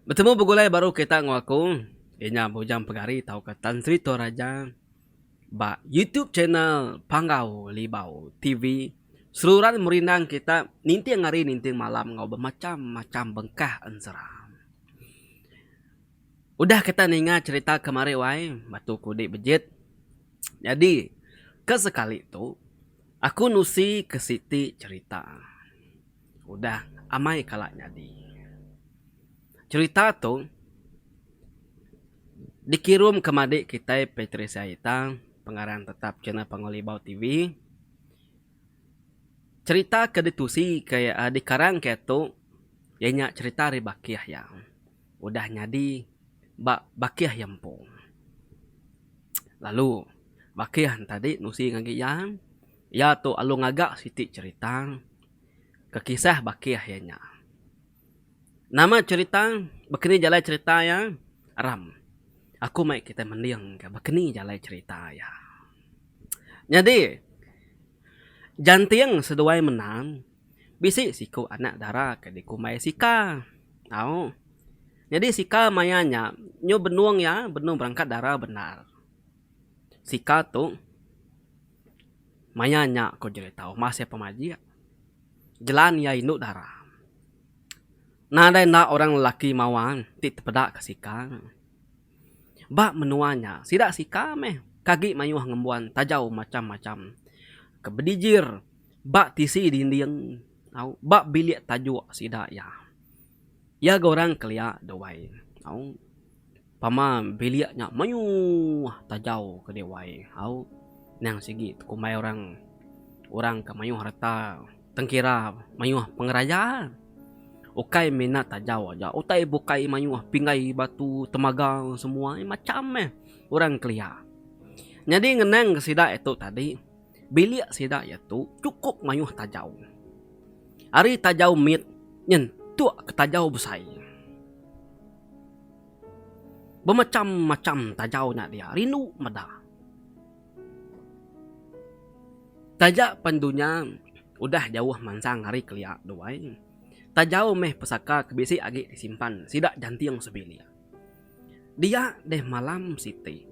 Betemu begulai baru kita enggau aku iya nya Bujang Pegari tauka Tan Sri Toraja ba YouTube channel Panggau Libau TV. Seruran merindang kita ninting hari ninting malam enggau bemacham-macham bengkah ensera. Udah kita ninga cerita kemari wai batu kudi bejit. Nyadi ke sekali tu aku nusi ke siti cerita udah amai kala nyadi. Cerita tu dikirum ke madi kitai Patricia Ita pengarang tetap channel Pangolibau TV. Cerita ke ditusi ke dikarang ke tu iya nya cerita ari bakih iya. udah nyadi ba bakih iya empu. Lalu bakih enta di nusi ngagai iya, iya tu alu ngaga siti cherita ke kisah bakih iya nya. Nama cherita bekeni jalai cherita iya ram aku mai kitai mending ka bekeni jalai cherita iya. Nyadi janting seduai mendang. Bisi siku anak dara ke dikumbai Sika. Tau. Nyadi Sika maya nya nyu benung iya benung berangkat dara bendar. Sika tu maya nya ku jerita uma sia pemajik jelan iya indu dara. Nadai enda orang lelaki mawa ti tepeda ke Sika. Ba menua nya sida Sika meh ke agi mayuh ngembuan taja macam-macam ke bedijir. Ba tisi dinding au ba bilik tajuk sida iya. Iya ga orang kelia dewai au pama bilik nya mayuh tajau ke dewai au nang sigi tekumbai orang orang ke mayuh reta tengkira mayuh pengeraya ukai mina tajau aja utai bukai mayuh pinggai batu temaga semua macam meh orang kelia. Nyadi ngenang ke sida itu tadi. Bilik sida iya tu chukup mayuh tajau. Ari tajau mit nyentuk ke tajau besai. Bemacham-macham tajau nya dia rindu meda. Taja pen dunya udah jauh mansang ari kelia tu ai, tajau meh pesaka ke bisi agi disimpan sida janting sebilik. Dia deh malam siti.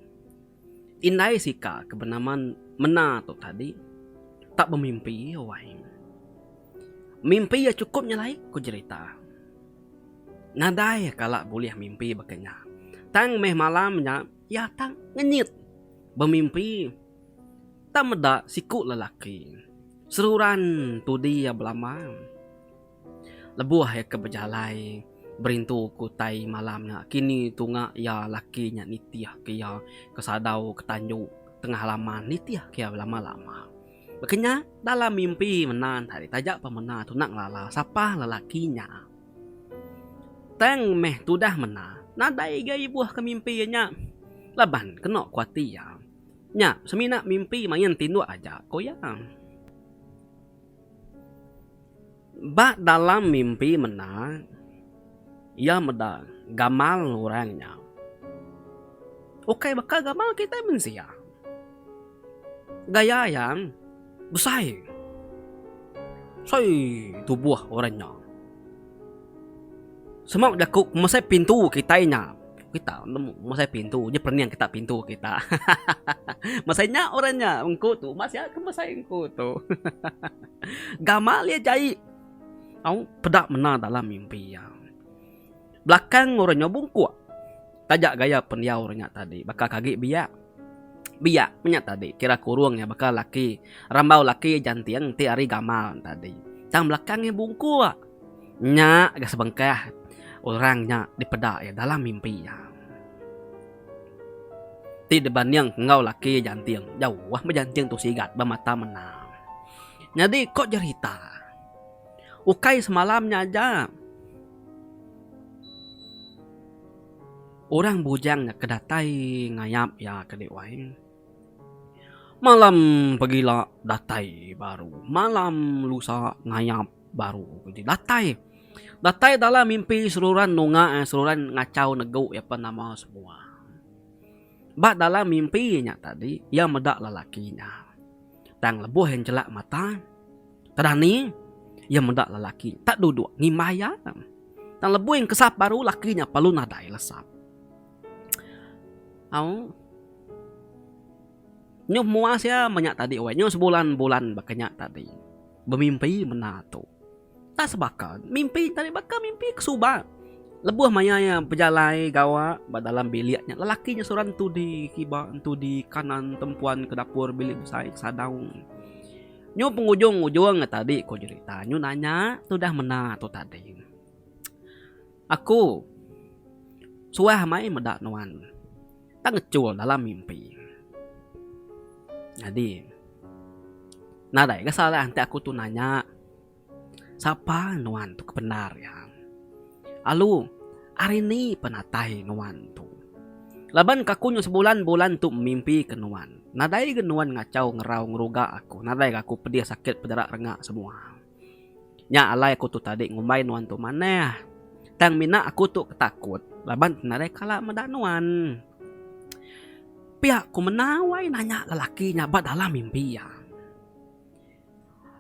Indai sika ke benama Mena tu tadi tak bemimpi wai. Mimpi iya chukup nyelai ku jerita. Nadai kala bulih mimpi baka nya. Tang meh malam nya iya tak ngenyit bemimpi tak meda siku lelaki seruran tudi iya belama. Lebuh iya ke bejalai berintu ke utai malam nya, kini tunga iya laki nya nitih ke iya ke sadau ke tanju tengah laman nitih ke iya belama-lama. Baka nya, dalam mimpi mena enta dih taja pemena tu enda ngelala sapa lelaki nya. Tang meh tudah mena, nadai ga ibuh ke mimpi iya nya laban kena ku ati iya. Nya semina mimpi main tinduk aja, ku iya. Ba dalam mimpi menda, iya meda gamal orang nya ukai baka gamal kitai mensia. Gaya iya besai. Besai tubuh orang nya. Semau jaku mesai pintu kitai nya. Kita nemu mesai pintu nya pening kita pintu kita. Mesai nya orang nya engku tu ba sia ke mesai engku tu. Gamal iya jai au peda mena dalam mimpi iya. Belakang orang nya bungkuk taja gaya pendiau orang nya tadi baka ke agi biak. Biak menya tadi kira kurung iya baka laki rambau laki janting ti ari gamal tadi. Tang belakang iya bungkuk. Nya ga sebengkah orang nya dipeda iya dalam mimpi iya. Ti dibanding enggau laki iya janting jauh meh janting tu sigat ba mata mendar. Nyadi ko jerita ukai semalam nya aja. Orang bujang nya ke datai ngayap iya ke dek wai. Malam pegila datai baru. Malam lusa ngayap baru budi datai. Datai dalam mimpi seruran nunga iya seruran ngachau negu iya pan nama semua. Ba dalam mimpi nya tadi iya meda lelaki nya. Tang lebuh iya njelak mata. Kedah ni, iya meda lelaki nya tak duduk ngimbai iya. Tang lebuh iya ngesap baru, lelaki nya perlu nadai lesap. Au. Nyuh muas iya meh nya tadi weh. Nyuh sebulan-bulan baka nya tadi. Bemimpi bendar tu. Tak sebaka. Mimpi tadi baka mimpi ke suba. Lebuh maya iya bejalai gawa ba dalam bilik nya, lelaki nya seorang entudi kiba, entudi kanan, tempuan ke dapur bilik besai ke sadau. Nyu pengujung ujung ga tadi ko jerita nyu nanya tudah mena tu tadi. Aku suah amai meda nuan tang ngechul dalam mimpi. Nyadi nadai ga salah enti aku tu nanya Sapa nuan tu ke bendar iya? Alu, ari ni penatai nuan tu? Laban kaku nyu sebulan bulan tu mimpi ke nuan. Nadai ga nuan ngachau ngerau ngeruga aku, nadai ga aku pedih sakit pederak rengak semua. Nya alai aku tu tadi ngumbai nuan tu manah. Tang mina aku tu ke takut laban ke nadai kala meda nuan. Pia ku menawai nanya lelaki nya ba dalam mimpi iya.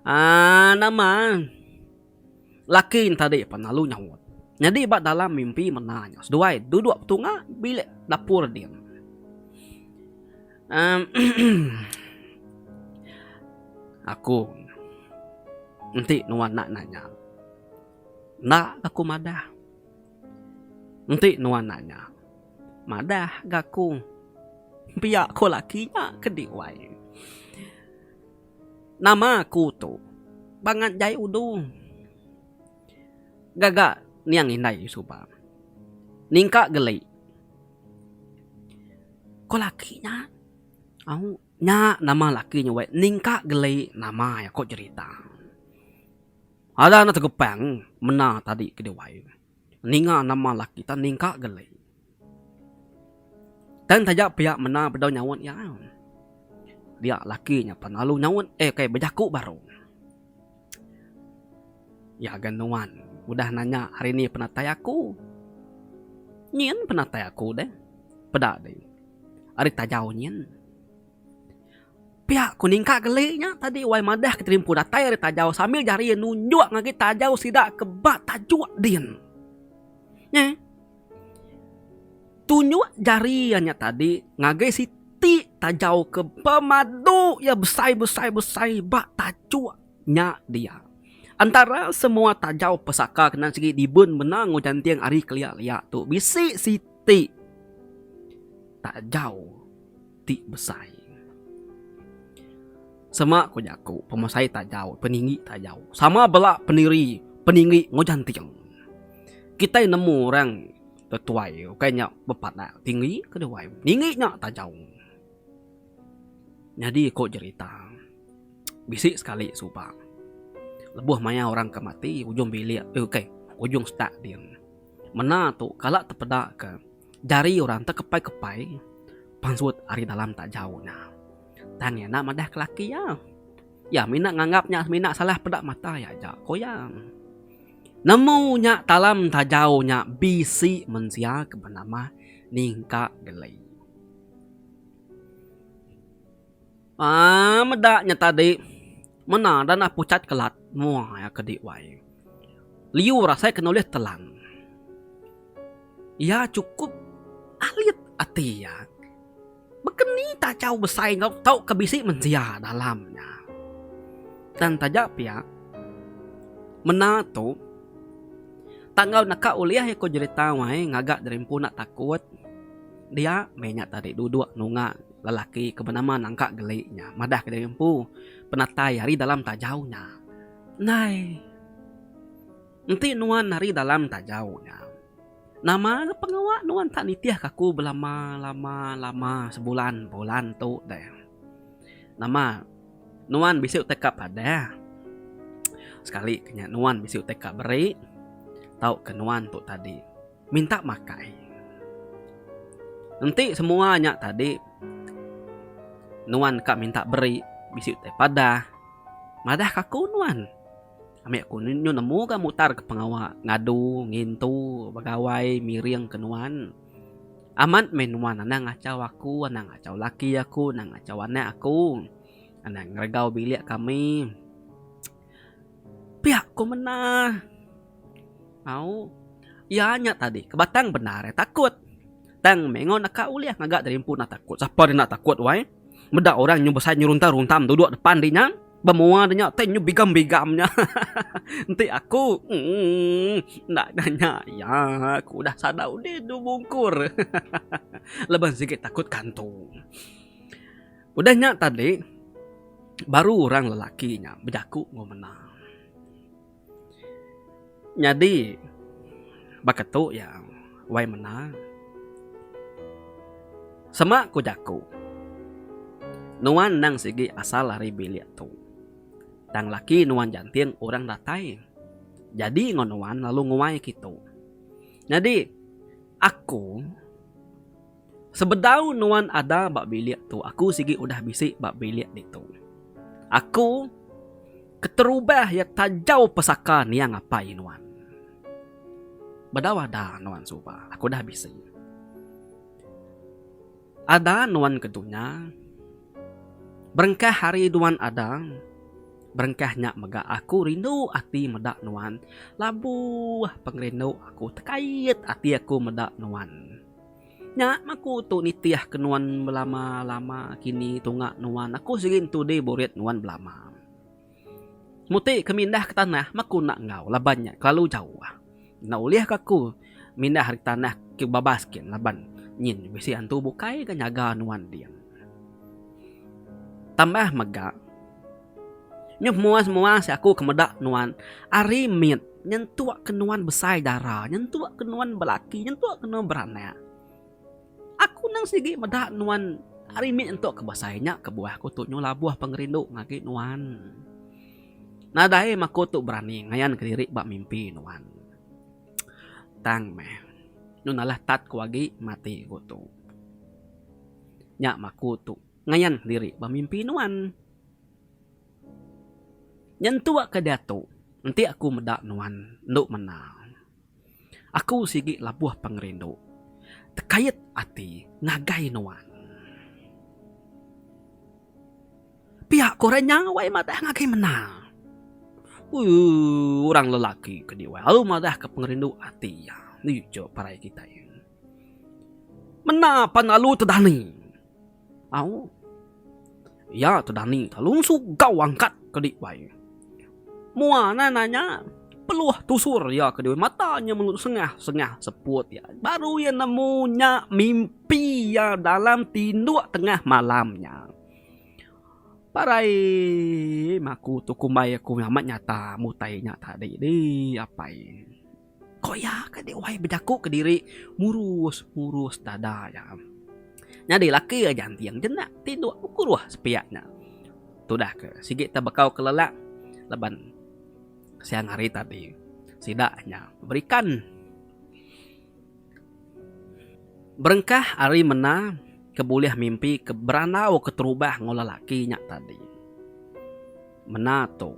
Aa nama laki entadi pan lalu nyaut. Nyadi ba dalam mimpi mena nya seduai duduk betunga bilik dapur din. Amm emm aku enti nuan enda nanya enda ga ku madah enti nuan nanya madah ga ku pia ku laki nya ke di wai. Nama aku tu bangat jai udu gaga niang indai suba ningka geli. Ko laki nya au nya nama laki nya weh ningka geli nama iya ko jerita. Ada ne tegepang menda tadi ke dewai ninga nama laki kita ningka geli. Tang taja pia menda bedau nyaut iya. Dia laki nya pan lalu nyaut eh kai bejaku baru. Iya ga nuan udah nanya hari ni penatai aku. Nyin penatai aku deh. Peda deh ari tajau nyin. Pia ku ningka geli nya tadi wai madah ke terimpu datai ari tajau sambil jari iya nunjuk ngagai tajau sida ke ba tajuk din. Neh. Tunjuk jari iya nya tadi ngagai siti tajauka pemadu iya besai-besai-besai ba tajuk nya dia. Entara semua tajau pesaka ke nan sigi dibun mendang enggau janting ari kelia-lia tu bisi siti tajau. ti besai. Sema ku jaku pemesai tajau peninggi tajau sama bela pendiri peninggi enggau janting. Kitai nemu orang tetuai ukai nya bepadak tinggi ke duai ninggi nya tajau. Nyadi ku jerita bisi sekali suba lebuh maya orang ke mati ujung bilik ukai ujung stak din menda tu kala tepeda ke Jari orang tekepai-kepai pansut ari dalam tak jauh nya. Tang iya enda madah ke laki iya. Iya mina nganggap nya semina salah peda mata iya aja, ko iya. Nemu nya talam tak jauh nya bisi mensia ke benama Ningka Geli. Aaa meda nya tadi mena dah nah pucat kelat muai aka di wai. Liur asai kena ulih telan. Iya chukup alit ati iya. Baka ni taja besai enggau tau ka bisi mensia dalam nya. Tang taja pia mena tu tang enggau neka ulih iya ko jerita wai ngaga diri empu enda takut dia meh nya tadi duduk nunga. Lelaki ke benama Nangka Geli nya madahka diri empu penatai ari dalam tajau nya. Ndai. Enti nuan ari dalam tajau nya, nama ga pengawa nuan enda nitihka aku belama lama lama sebulan bulan tu deh. Nama nuan bisi utai ka padah. Sekali ke nya nuan bisi utai ka beri tauka nuan tu tadi. minta makai. Enti semua nya tadi nuan ka minta beri bisi utai padah madah ka aku nuan. Ami aku nyu nemu ga mutar ka pengawa ngadu ngintu begawai miring ke nuan. Amat meh nuan anang ngachau aku anang ngachau laki aku anang ngachau anak aku anang ngeregau bilik kami. Pia ku mena. Au. Iya nya tadi ke batang bendar iya takut. Tang meh enggau naka ulih ngaga diri empu enda takut. Sapa enda takut wai. Meda orang nyau besai nyau runtam runtam duduk depan diri nya. Ba mua diri nya tai nyau bigam bigam nya. Enti aku emm enda nya nya iya aku udah sada udih dua bungkur. Laban sigi takut kantung. Udah nya tadi, baru orang lelaki nya bejaku enggau mena. Nyadi, baka tu iya, wai mena, sema ku jaku, nuan endang sigi asal ari bilik tu. Tang laki nuan jantin orang datai jadi enggau nuan lalu nguai kitu. Nyadi, aku. Sebedau nuan ada ba bilik tu aku sigi udah bisi ba bilik ditu. Aku keterubah iya tajau pesaka niang apai nuan. Bedau ada nuan suba aku udah bisi. Ada nuan ke dunya berengkah hari nuan ada berengkah nya mega aku rindu ati meda nuan labuh pengerindu aku tekait ati aku meda nuan. Nya maku tu nitih ke nuan belama lama kini tunga nuan aku sigi entu deh burit nuan belama. Muti ke mindah ke tanah maku enda enggau laban nya kelalu jauh. Enda ulih ka aku mindah ari tanah ke babas kin laban nyin bisi antu bukai ga nyaga nuan din. Tambah mega. Nyuh muas muas aku ke meda nuan ari mit nyentuk ke nuan besai dara nyentuk ke nuan belaki nyentuk ke nuan beranak aku nang sigi meda nuan ari mit nyentuk ke besai nya kebuah aku tu nyuh labuh pengerindu agi nuan nadai meh aku tu berani ngayan ke diri ba mimpi nuan tang meh nyuh nalah tat ku agi mati ku tu nya meh aku tu. Ngayan kediri ba mimpi nuan. Nyentuk ka diatu enti aku meda nuan endo mena. Aku sigi labuh pengerindu tekait ati ngagai nuan. Pia ko orang nya wai madah ngagai mena. Ooh orang lelaki ke di wai aru madah ka pengerindu ati iya. Nih jo parai kitai. Mena pan lalu tedani. Au. Iya tu Dani ka lalu sugau angkat ke di bai. Mua na nanya, peluh tusur iya ke di bai mata nya melu sengah sengah seput iya baru iya nemu nya mimpi iya dalam tinduk tengah malam nya. Parai mak aku tu kumbai aku amat nyata mutai nya tadi dih apai. Ko iya ka dek wai bejaku kediri murus murus dada iya. Nyadi laki aja anting jenak tinduk bekuruh sepiak nya. Tudah ke sigi tebekau kelelak laban siang hari tadi sida nya berikan. Berengkah ari mena ke bulih mimpi ke berandau keterubah enggau lelaki nya tadi. Mena tu.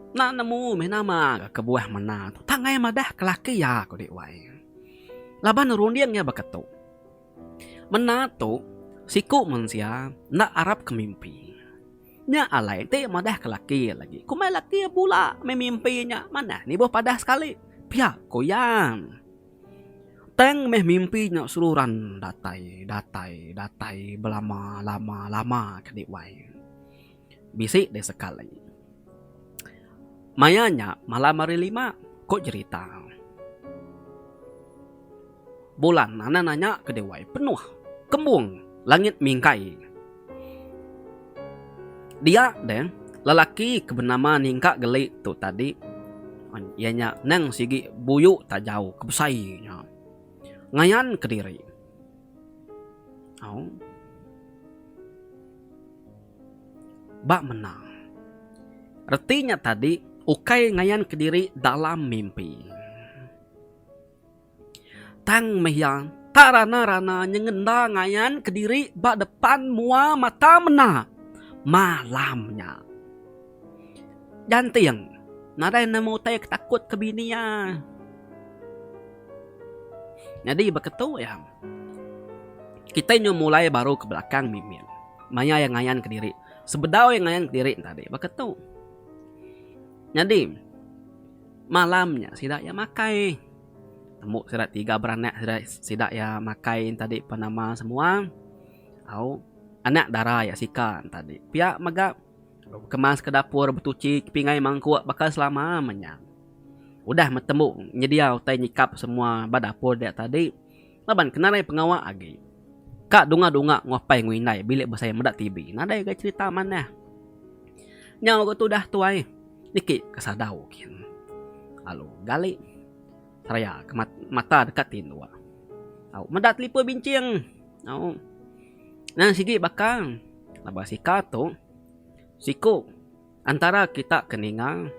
Enda nemu meh nama ga kebuah mena tu tang ai madah ke laki iya ko dik wai. Laban runding iya baka tu. Mena tu siku mensia enda arap ke mimpi. Nya alai enti madah ke laki iya lagi kombai laki iya pula meh mimpi nya manah ni ibuh padah sekali pia ko iya. Tang meh mimpi nya seruran datai datai datai belama lama lama ke dik wai. Bisi deh sekali. Maya nya malam hari lima, ko jerita. Bulan nana nanya ke dewai penuh kembung langit mingkai. Dia deh lelaki ke benama Ningka Geli tu tadi, iya nya nang sigi buyu tajau ke besai nya, ngayan kediri. Au. Ba menang. Reti nya tadi ukai ngayanka diri dalam mimpi. Tang meh iya tak rana-rana nyengenda ngayanka diri ba depan mua mata menda malam nya. Janting, nadai nemu utai ke takutka bini iya. Nyadi baka tu iya. Kitai nyau mulai baru ke belakang mimit. Maya iya ngayanka diri. Sebedau iya ngayanka diri tadi baka tu. Nyadi, malam nya sida iya makai. Tembu sida tiga beranak sida, sida iya makai tadi pan nama semua. Au anak dara iya sika tadi. Pia mega bekamas ke dapur, betuchi, kepingai mangkuk baka selama menya. Udah metembu nyedia utai nyikap semua ba dapur dia tadi laban kena alai pengawa agi. Ka dunga-dunga enggau apai enggau indai bilik besai meda TV nadai ga cherita manah. Nyau ga tudah tuai niki ka sadau kin lalu gali seraya ka mata deka tinduk au meda telipon binching au nan sigi baka laban sika tu siku. Antara kita ke ninga,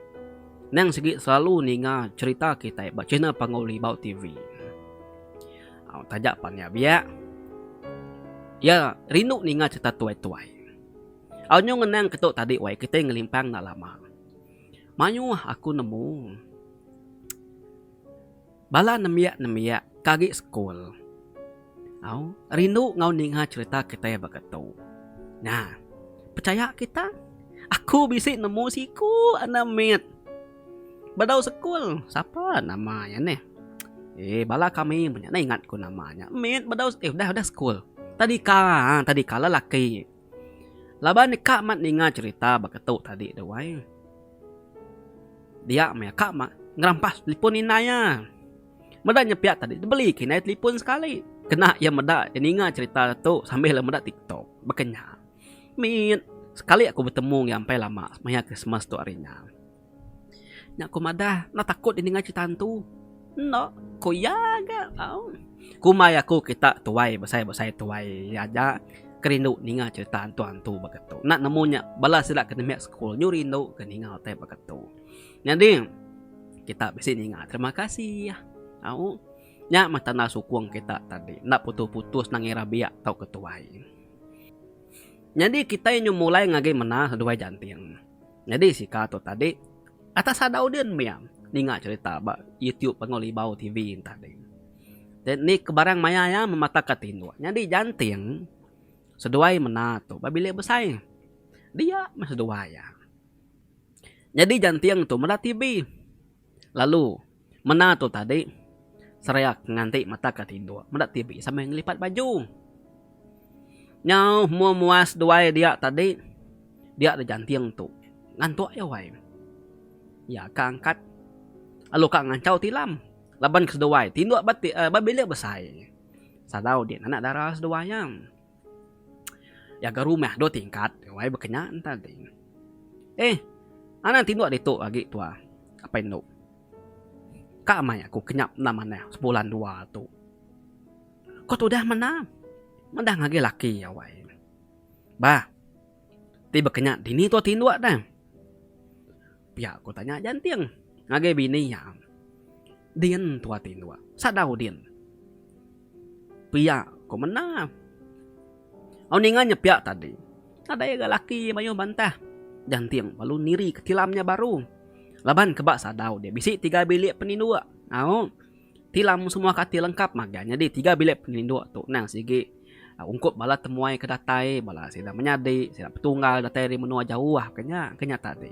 nang sigi selalu ninga cherita kitai ba channel Panggau Libau TV. Au taja pan nya biak. Iya rindu ninga cherita tuai-tuai. Au nyau ngenang ketu tadi wai kitai ngelimpang enda lama. Mayuh aku nemu. Bala nembiak-nembiak ke agi sekul au rindu enggau ninga cherita kitai ba ga tu. Nya, pechaya kita, aku bisi nemu siku enda mit bedau sekul. Sapa nama iya nih? Eee bala kami meh nya ingat ku nama nya. Mit bedau, udah udah sekul. Tadika, tadika lelaki. Laban nya ka mat ninga cerita baka tu tadi tu ai. Dia meh ka mat ngerampas telefon indai iya. Meda nya pia tadi dibeli ke indai telefon sekali. Kena iya meda ninga cerita tu sambil iya meda tiktok. Baka nya. Mit sekali aku betemu iya empai lama maya Krismas tu ari nya. Nya ku madah, enda takut deh ninga cerita hantu. Enda, ku iya ga. Kumbai aku kita tuai besai-besai tuai aja ke rindu ninga cerita hantu-hantu baka tu. Enda nemu nya bala sida ke nembiak sekul nyu rindu ke ninga utai baka tu. Nyadi kita bisi ninga terima kasih au. Nya mah tanda sukung kita tadi enda putus-putus nang ira biak tau ke tuai. Nyadi kitai nyu mulai ngagai mena seduai janting. Nyadi sika tu tadi atas sada udin mia ninga cerita ba YouTube Panggau Libau TV entah ding. Jadi ni ke barang maya iya memataka tinduk. Nyadi janting seduai mena tu ba bilik besai. Dia meh seduai iya. Nyadi janting tu meda TV. Lalu, mena tu tadi, Seriak nganti mata ke tinduk meda TV sambil ngelipat baju. Nyau hemua mua seduai dia tadi dia dijanting tu ngantuk iya wai. Iya ka angkat lalu ka ngancau tilam laban ke seduai tinduk ba ti ba bilik besai. Sadau di nanak dara seduai iya. Jaga rumah dua tingkat wai bekenya enta ding. Eh anang tinduk ditu agi tua apai endu. Ka amai aku kenyap endang manah sebulan dua tu. Ko tudah menda mendang agi laki iya wai. Bah ti bekenya dini tua tinduk deh. Pia ku tanya Janting ngagai bini iya. Din tu ati endua. Sada Udin. Pia ku menda. Au ninga nya pia tadi. Nadai ga laki mayuh bantah. Janting lalu nirika tilam nya baru. Laban ke ba sadau dia bisi tiga bilik peninduk. Au. Tilam semua ka ti lengkap magang nyadi tiga bilik peninduk tu endang sigi ungkup bala temuai ke datai bala sida menyadi sida petunggal datai ari menua jauh ke nya ke nya tadi.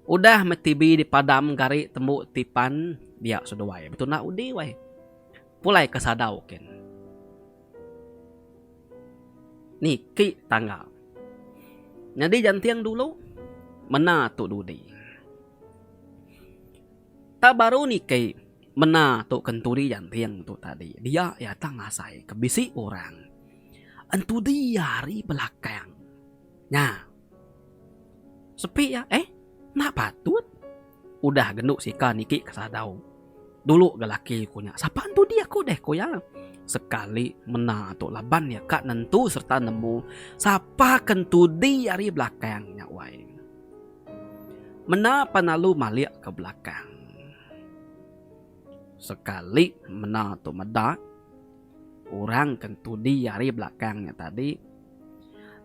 Udah meh TV dipadam gari tembu ti pan dia seduai betunda undi weh. Pulai ke sadau kin niki tangga nyadi janting dulu mena tu dudi. Tang baru niki mena tu kentudi janting tu tadi dia iya tang asai ke bisi orang entudi iya ari belakang nya sepi iya eh enda patut udah gendu sika niki ke sadau dulu ga laki ku nya sapa entudi aku deh ku iya sekali mena tu laban iya ka nentu serta nemu sapa kentudi ari belakang nya wai. Mena pan alu malik ke belakang. Sekali mena tu meda, orang ke entudi ari belakang nya tadi,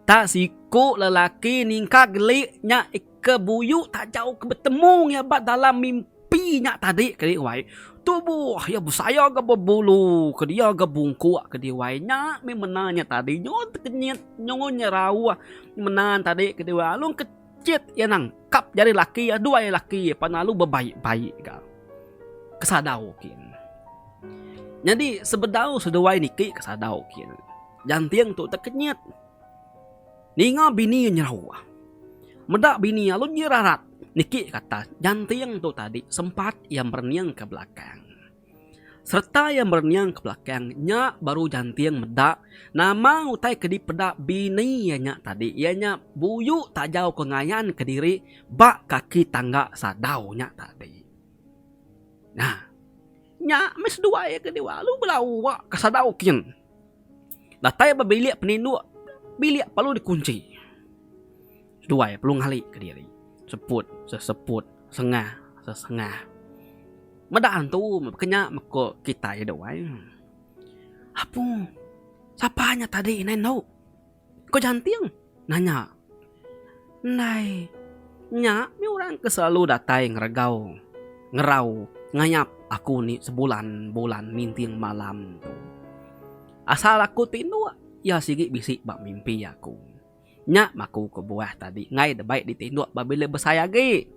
tak siku lelaki ningkak geli nya ke buyu taja ke betemu iya ba dalam mimpi nya tadi ke diri wai. Tubuh iya besaya ga bebulu ke dia ga bungkuk ke diri wai. Nya mih mena nya tadi nyun tekenyit, nyun nyerauh mena tadi ke diri wai. Alu ke. Cit iya nang kap jari laki iya dua iya laki iya pan lalu bebaik-baik ga kesadau kin. Nyadi sebedau seduai niki kesadau kin. Janting tu tekenyit. Ninga bini iya nyerau. Meda bini iya alun iya rarat niki kata janting tu tadi sempat iya merening ke belakang. sereta iya merening ke belakang nya baru janting meda nama utai ke dipeda bini iya nya tadi iya nya buyu tajau ke ngayan kediri ba kaki tangga sadau nya tadi nah nya meh seduai iya ke diau lalu bala uwa ke sadau kin datai ba bilik peninduk bilik perlu dikunchi Seduai perlu ngali kediri. Seput, seseput, sengah, sesengah. Meda antu ke nya meko kitai duai. Apu, sapa nya tadi indai endo? Ko Janting nanya. Indai nya mih orang ke selalu datai ngeregau, ngerau, ngayap aku ni sebulan-bulan ninting malam tu. Asal aku tinduk, iya sigi bisi ba mimpi aku. Nya maku kebuah tadi enggai debei ditinduk pabila besai agi.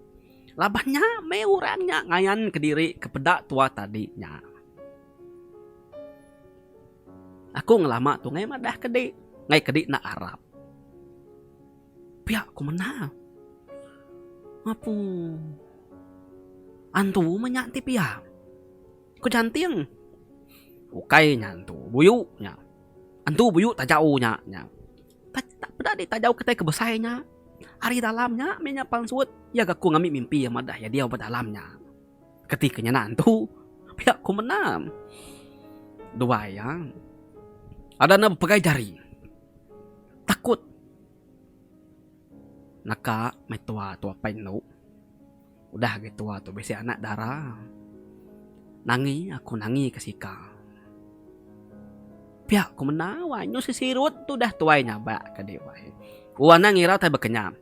Laban nya meh orang nya ngayanka diri ke peda tua tadi nya. Aku ngelama tu enggai madah kedi, enggai kedi enda arap. Pia ku menda. Apu antu meh nya ti pia. Ku Janting. Ukai nya entu buyu nya. Entu buyu tajau nya nya. Taja peda deh tajau kitai ke besai nya. Ari dalam nya meh nya pansut iya ga ku ngambi mimpi amat dah iya diau ba dalam nya. Keti ke nyana entu pia ku mendam. Dua iya ada enda bepegai jari. Takut naka meh tua tua pai endu. Udah agi tua tu bisi anak dara. Nangi aku nangi ke sika. Pia ku menda wanyu sisirut tu udah tuai nyabak ke dek wai. U anang ira utai bekenyam.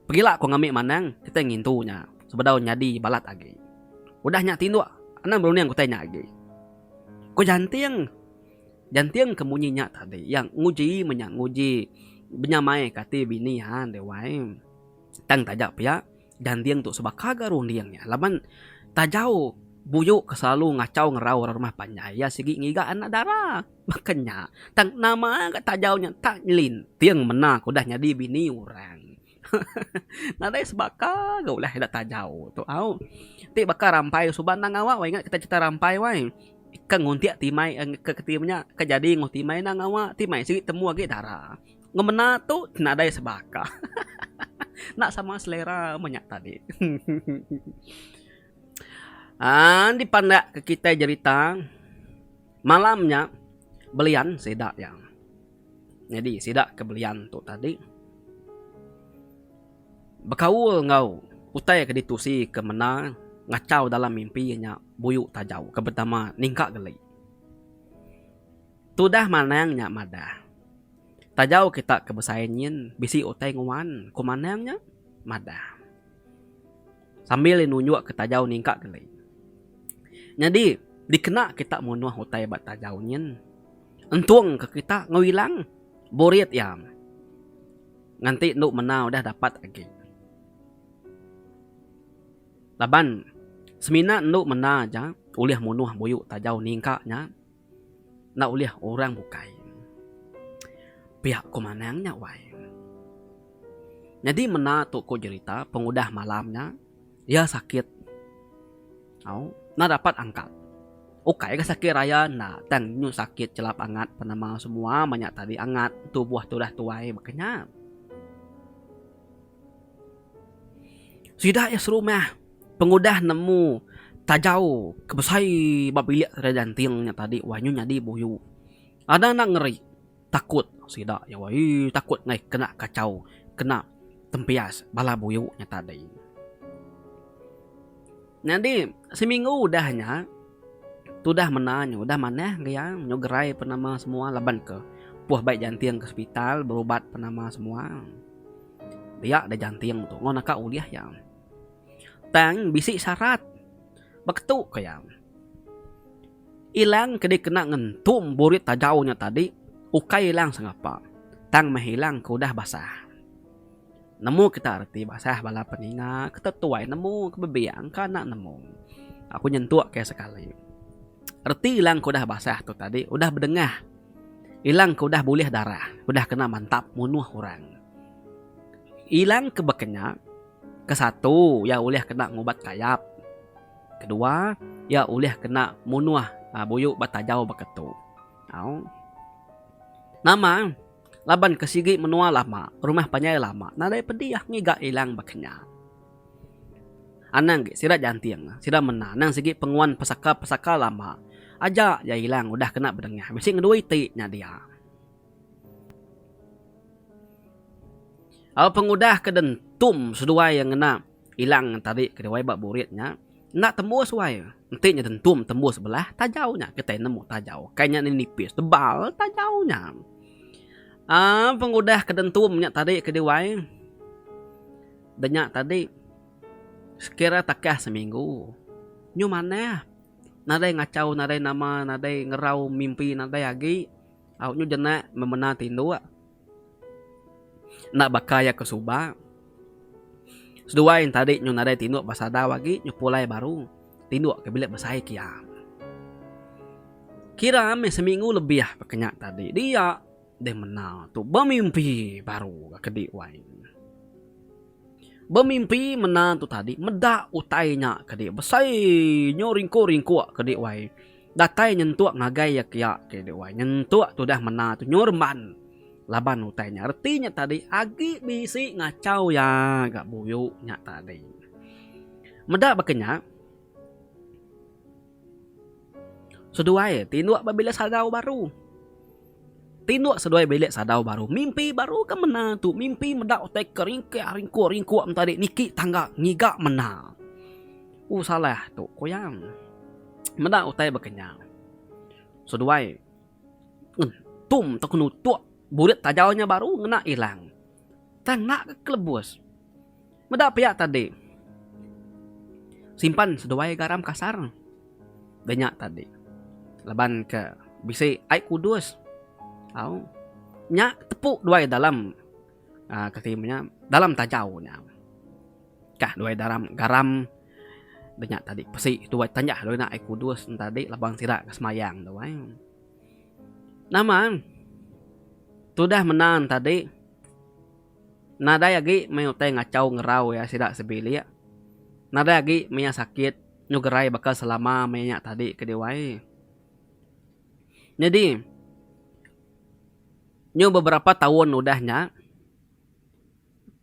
Pegila ku ngambi manang kitai ngintu nya sebedau nyadi balat agi. Udah nya tinduk anang berunding utai nya agi. Ku Janting. Janting ke munyi nya tadi iya nguji menya nguji benyamaika ati bini iya dek wai. Tang taja pia. Ganding tu sebaka ga runding nya laban Tajau Buyu ke selalu ngachau ngerau orang rumah panjai iya sigi ngiga anak dara. Baka nya tang nama ga Tajau nya enta nyelinting mena ke udah nyadi bini orang. Nadai sebaka ga ulah ida Tajau tu au. Ti baka rampai suba endang ngawa wai ingat kita cerita rampai wai. Ke nguntik timai ke ke ti menya ke jadi enggau timai endang ngawa. Timai sigi temu agi dara. Ngemena tu nadai sebaka. Enda sama selera meh nya tadi. Aaa dipandakka kitai jerita malam nya belian sida iya. Nyadi sida ke belian tu tadi bekaul enggau utai ke ditusi ke menda ngachau dalam mimpi iya nya buyu tajau ke betama ningka geli. Tudah manang nya madah. Tajau kita ke besai nyin bisi utai nguan ku Manang nya madah sambil iya nunjukka Tajau ningka geli. Nyadi dikena kita munuh utai ba Tajau nyin entungka kita ngewilang burit iya nganti enda mena udah dapat agi. Laban semina enda mena aja ulih munuh buyu Tajau ningka nya Enda ulih orang bukai. Pia ko manang nya wai. Nyadi menda tu ko jerita pengudah malam nya iya sakit au enda dapat angkat. Ukai ga sakit raya enda tang nyu sakit chelap angat penema semua manya tadi angat tubuh tu dah tuai baka nya. Sida iya serumah pengudah nemu tajau ke besai ba bilik Sri Ganting nya tadi wah nyu nyadi buyu. Ada enda ngeri takut sida iya weii takut meh kena kachau kena tempias bala buyu nya tadi. Nyadi seminggu udah nya tudah menda nya udah manah ke iya nyu gerai penama semua laban ke puh bai Ganting ke sepital berubat penama semua. Pia deh janting tu enggau naka ulih iya. Tang bisi syarat. Baka tu ko iya. Ilang ke dikena ngentum burit tajau nya tadi ukai ilang sengapa tang meh ilang ke udah basah. Nemu kita reti basah bala peninga ke tetuai nemu ke bebiang ke anak nemu. Aku nyentuk ke sekali. Reti ilang ke udah basah tu tadi udah bedengah. Ilang ke udah bulih darah, udah kena mantap munuh orang. Ilang ke baka nya, ke satu, iya ulih kena ngubat kayap. Ke dua, iya ulih kena munuh buyu ba tajau baka tu. Au. Nama? Laban ke sigi menua lama, rumah panjai lama nadai pedih ngiga ilang baka nya. Anang agi sida janting. Sida menda anang sigi penguan pesaka-pesaka lama. Aja iya ilang udah kena bedengah bisi ngeduai iti nya dia. Au pengudah ke den tum seduai iya ngena ilang tadi ke diwai ba burit nya enda tembus wai. Enti nya den tum tembus belah tajau nya kitai nemu tajau. Kai nya nipis tebal tajau nya. Au pengudah ke den tum nya tadi ke diwai. Denya tadi, sekira takah seminggu, nyu manah nadai ngachau nadai nama nadai ngerau mimpi nadai agi au nyu jenak memena tinduk enda baka iya ke suba. Seduai tadi nyu nadai tinduk ba sadau agi nyu pulai baru tinduk ke bilik besai kiang. Kira meh seminggu lebih ba kenya tadi dia. Deh mena tu bemimpi baru ga kedi wai. Bemimpi mena tu tadi meda utai nya kedi besai nyu ringkuk-ringkuk kedi wai. Datai nyentuk ngagai iya kia kedi wai. Nyentuk tudah mena tu nyu remban laban utai nya reti nya tadi agi bisi ngachau iya ga buyu nya tadi. Meda baka nya. Seduai tinduk ba bilik sadau baru. Tinduk seduai bilik sadau baru. Mimpi baru ke mena tu mimpi meda utai ke ringkih ringkuk ringkuk enta di niki tangga ngiga mena. U salah tu kuyang. Meda utai bekenyang. Seduai ngentum tau ke nutuk burit tajau nya baru ngena ilang. Tang enda ke kelebus. Meda pia tadi. Simpan seduai garam kasar da nya tadi. Laban ke bisi ai kudus. Au. Nya tepu duai dalam aaa kati inya dalam tajau nya. Kah duai dalam garam da nya tadi pesi tu tanjah enda ai kudus nya tadi laban sida ke semayang tu ai. Nama am. Tudah menang tadi. Nadai agi meh utai ngachau ngerau iya sida sebilik. Nadai agi meh iya sakit nyugerai baka selama meh iya tadi ke diwai. Nyadi nyu beberapa taun udah nya.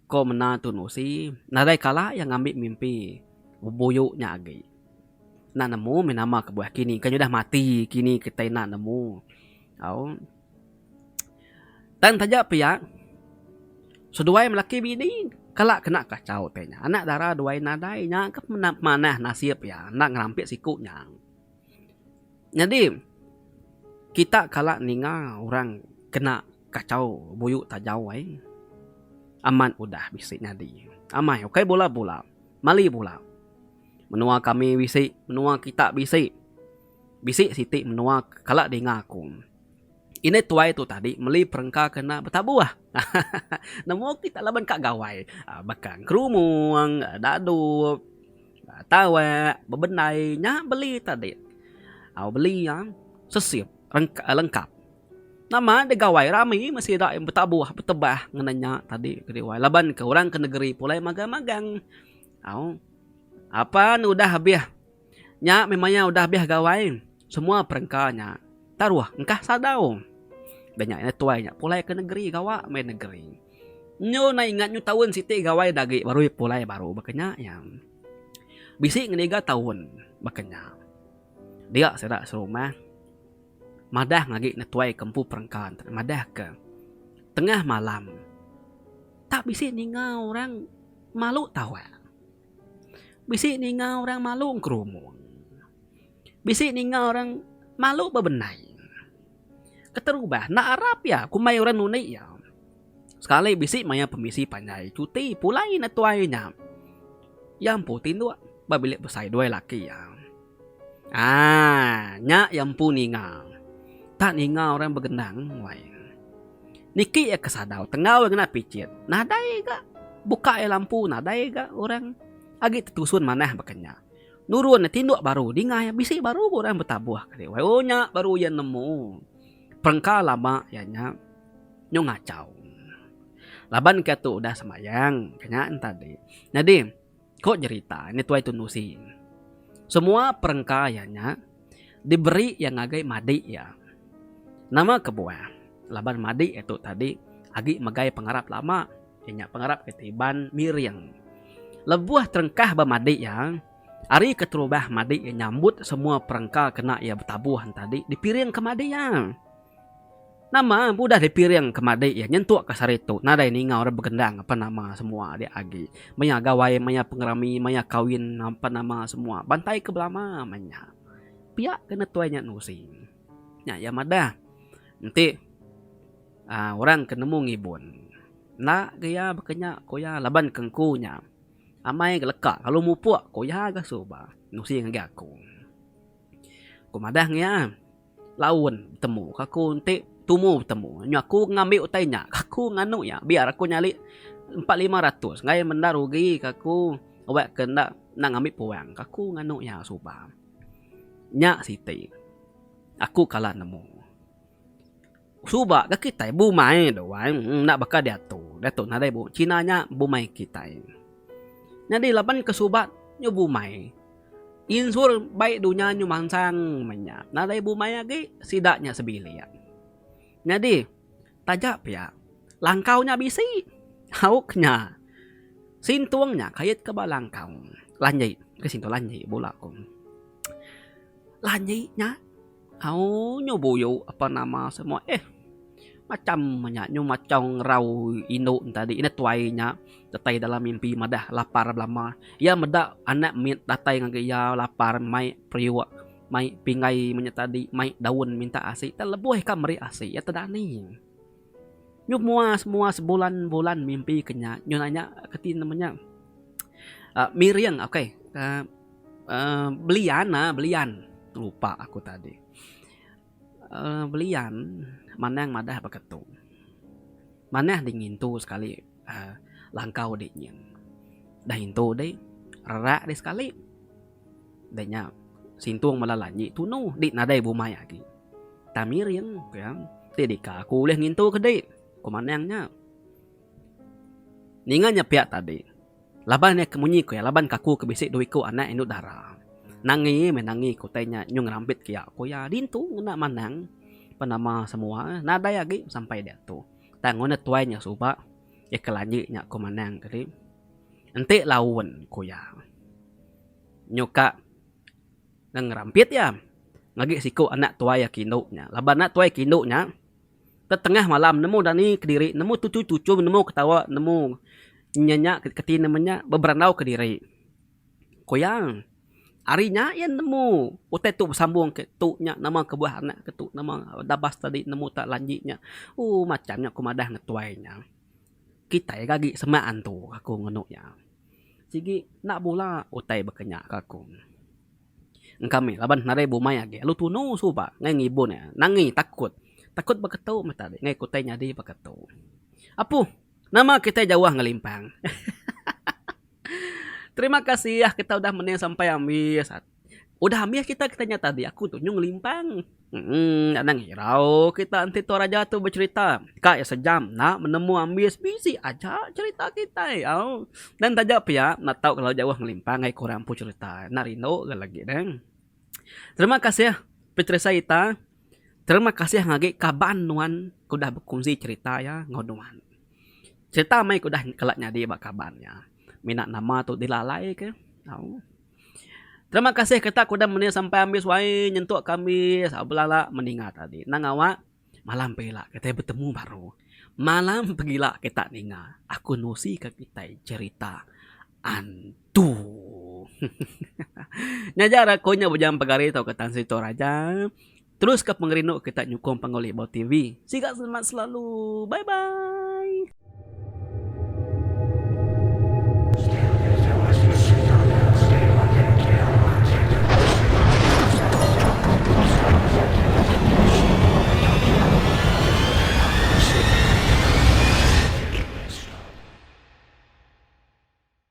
Ko mena Tun Usi, nadai kala iya ngambi mimpi bebuyu nya agi. Enda nemu meh nama kebuah kini kan udah mati kini kitai enda nemu au. Tang taja pia seduai melaki bini kala kena kachau tai nya. Anak dara duai nadai nya ke pemana pemanah nasip iya enda ngerampit siku nya. Nyadi kita kala ninga orang kena kachau buyu tajau ai amat udah bisi nyadi amai ukai bula bula mali bula menua kami bisi menua kita bisi bisi siti menua kala dinga aku ineh tuai tu tadi meli perengka ke enda betabuh ahaha nemu kita laban ka gawai baka ngerumong dadup. Tawek bebendai nya beli tadi. Au beli iya sesip lengkap. Nama enda gawai rami meh sida yang betabuh betebah ngena nya tadi kereja laban ke orang ke negeri pulai magang magang. Au apan udah habis nya meh maya udah habis gawai. Semua perengka nya taruh engkah sadau. Da nya ina tuai nya pulai ke negeri gawa meh negeri. Nyu enda ingat nyu taun siti gawai da agi baru pulai baru baka nya iya. Bisi ngenega taun baka nya. Dia sida serumah madah ngagi netuai ke empu perengka enti madah ke tengah malam tak bisi ninga orang malu tawak. Bisi ninga orang malu ngerumung. Bisi ninga orang malu bebendai. Keterubah enda arap iya kumbai orang nundi iya. Sekali bisi maya pemisi panjai cuti pulai netuai nya. Iya empu tinduk ba bilik besai duai laki iya. Haa nya iya empu ninga. Enda ninga orang begendang wai. Niki iya ke sadau tenggau iya ngena picit. Nadai ga buka iya lampu nadai ga orang agi tetusun manah baka nya. Nurun tinduk baru dingai bisi baru orang betabuh kali wai oh nya baru iya nemu perengka lama iya nya nyau ngachau laban kiya tu udah sembayang kanya tadi nyadi ko jerita ni tuai tundusi semua perengka iya nya. diberi iya ngagai madi iya. Nama kebuah? Laban madi iya tu tadi agi megai pengarap lama, iya nya pengarap kitai Iban miring. Lebuh terengkah ba madi iya, ari keterubah madi iya nyambut semua perengka kena iya betabuh enti tadi dipiringka madi iya. Nama ke udah dipiring ke madi iya nyentuk ke sehari tu nadai ninga orang begendang apan nama semua dia agi maya gawai maya pengerami maya kawin apan nama semua bantai ke belama meh nya pia ke netuai nya nusi nya iya madah enti uhh orang ke nemu ngibun enda ga iya baka nya ku iya laban ke engku nya amai ga leka lalu mupuk ku iya ga suba nusi ngagai aku ku madah ngiya. Laun betemu ke aku enti tumu betemu nyu aku ngambi utai nya ke aku nganu iya biar aku nyadi empat lima ratus ngagai menda rugi ke aku wek ke enda nang ngambi puang ke aku nganu iya suba nya siti aku kala nemu. Suba ga kitai bumai doh wai enda baka diatu. Diatu nadai bu cina nya bumai kitai. Nyadi laban ke suba nyu bumai insur bai dunya nyu mansang menya nadai bumai agi sida nya sebilik. Nyadi taja pia langkau nya bisi hauk nya sintung nya kait ke ba langkau lanji ke sintung lanji bula ko. Lanji nya. Au nyu buyu ape nama semua eh. Macham nya nyu machong rau indu ne tadi ineh tuai nya datai dalam mimpi madah lapar belama. Iya meda anak mit datai ngagai iya lapar mai periuk mai pingai meh nya tadi mai daun minta asi tau lebuh ikam meri asi iya tedani. Nyu muas muas bulan bulan mimpi ke nya nyu nanya keti nama nya miring ok uhh belian uhh belian lupa aku tadi uhh belian manang madah baka tu manah deh ngintu sekali langkau deh nyin dah intu deh rerak deh sekali. Da nya, Sintong bala lanyi tunu di nadai bumai agi. Tamiring, ku iya, ti deka aku ulih ngintu ke di? Ku Manang nya. Ninga nya pia tadi, laban iya ke munyi ku iya, laban kaku ke bisi dua iku anak indu dara. Nangi meh nangi ke utai nya nyau ngerambit ke iya, ku iya. Ditu ngena Manang pan nama semua eh nadai agi sampai diatu. Tang ngundah tuai nya suba iya ke lanyi nya, ku Manang tadi. Enti laun, ku iya. Nyuka ngan ngerampit iya ngagai siku anak tuai aku indu nya. Laban anak tuai aku indu nya tetengah malam nemu dani kediri, nemu tuchum-tuchum, nemu ketawa, nemu nyenya keti ne menya beberandau kediri. Ku iya, ari nya iya nemu utai tu besambung ke tu nya nama kebuah anak ke tu nama dabas tadi nemu tak lanji nya. Ooh macham nya ku madah ngan tuai nya. Kitai agi semak antu aku ngenu iya. Sigi enda bula utai bekenya ke aku. Engka mih laban nadai bumai agi lalu tunu suba ngai ngibun iya nangi takut. Takut beketu meh tadi ngai utai nyadi beketu. Apu nama kitai jauh ngelimpang. Terima kasih kita udah mening sampai ambis. Udah ambis kita kita nyata agi aku tu nyu ngelimpang. Emm anang irau kita enti tua raja tu becerita ka iya sejam enda menemu ambis bisi aja cerita kitai au. Nang taja pia enda tau kelalu jauh ngelimpang ai kurang empu cerita enda rindu ga lagi ne. Terima kasih peterisai ita. Terima kasih agi kaban nuan ke udah bekunsi cerita iya enggau nuan. Cerita mei ke udah kala nyadi ba kaban nya mina nama tu dilalai ke au. Terima kasih ketak ku udah menih sampai ambis wai nyentuk ke ambis belala meninga tadi nang awak malam pagila kitai betemu baru malam pagila kita ninga aku nusi ka kitai cerita antu hehehe ngejar aku nya bujang pegari tauka tan situ raja. Teruska pengerindu kita nyukung panggau Libau TV. Siga selamat selalu. Bye bye.